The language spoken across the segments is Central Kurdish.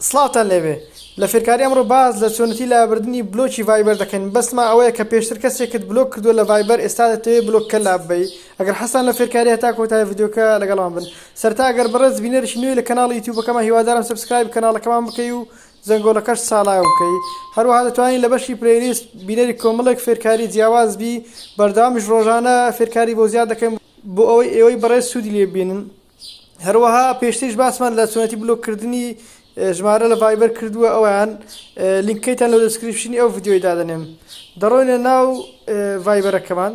سڵاوتان لێبێ لە فێرکاری ئەمڕۆ باس لە چۆنێتی لابردنی بلۆکی ڤایبەر دەکەین بەس ما ئەوەیە کە پێشتر کەسێکت بلۆک کردوە لە ڤایبەر ئێستا دەتەوێ بلۆک کە لاببەی ئەگەر حەزتان لە فێرکاریە هەتا کۆتای ڤیدیۆکە لەگەڵمان بن سەرتا گەر بەڕێز بینەرێکی نوێی لە کەناڵی یوتیوبەکەمان هیوادارم سەبسکرایبی کەناڵەکەمان بکەی و زەنگۆڵەکەش چاڵاو بکەی هەروەها دەتوانین لە بەشی پلەیلیست بینەری کۆمەڵێک فێرکاری جیاواز بی بەردەوامیش ڕۆژانە فێرکاری بۆ زیاد دەکەین بۆ ئەوەی ئێوەی بەڕێز سودی لێ ببینن. هەروەها پێشتریش باسمان لە چۆنێتی بلۆک کردنی ژمارە لە ڤایبەر کردووە ئەویان لینکەیتان لە دەسکرپشنی ئەو ڤیددیۆی دادەنێم دەڕۆینە ناو ڤایبەرەکەمان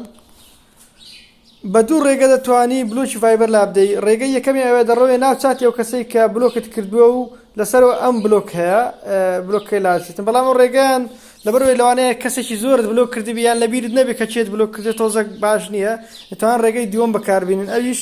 بە دوو ڕێگە دەتوانی بلوکی ڤایبەر لابدەی ڕێگە یەکەمی ئەوێ دەڕۆێ ناو چاتی و کەسەی کە بلۆکت کردووە و لەسەرەوە ئەم بلۆک هەیە بلۆکەکەی لاچێتن بەڵام ئەو ڕێگەیان لەبەرەوەی لەوانەیە کەسێکی زۆرت بلۆک کردی بیان لەبیرت نەبێت کە چێت بلۆک کردێت تۆزەک باش نییە دەتوان ڕێگەی دووەم بەکاربیێنن ئەویش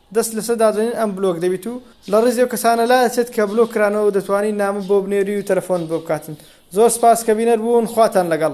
دەست لەسەر دادەنین ئەم بلۆک دەبیت و لە ڕیزی ئەو کەسانە لا ئەچێت کە بلۆک کرانەوە و دەتوانی نامە بۆ بنێری و تەلەفۆنت بۆ بکاتن زۆر سپاس کە بینەر بوون خواتان لەگەڵ.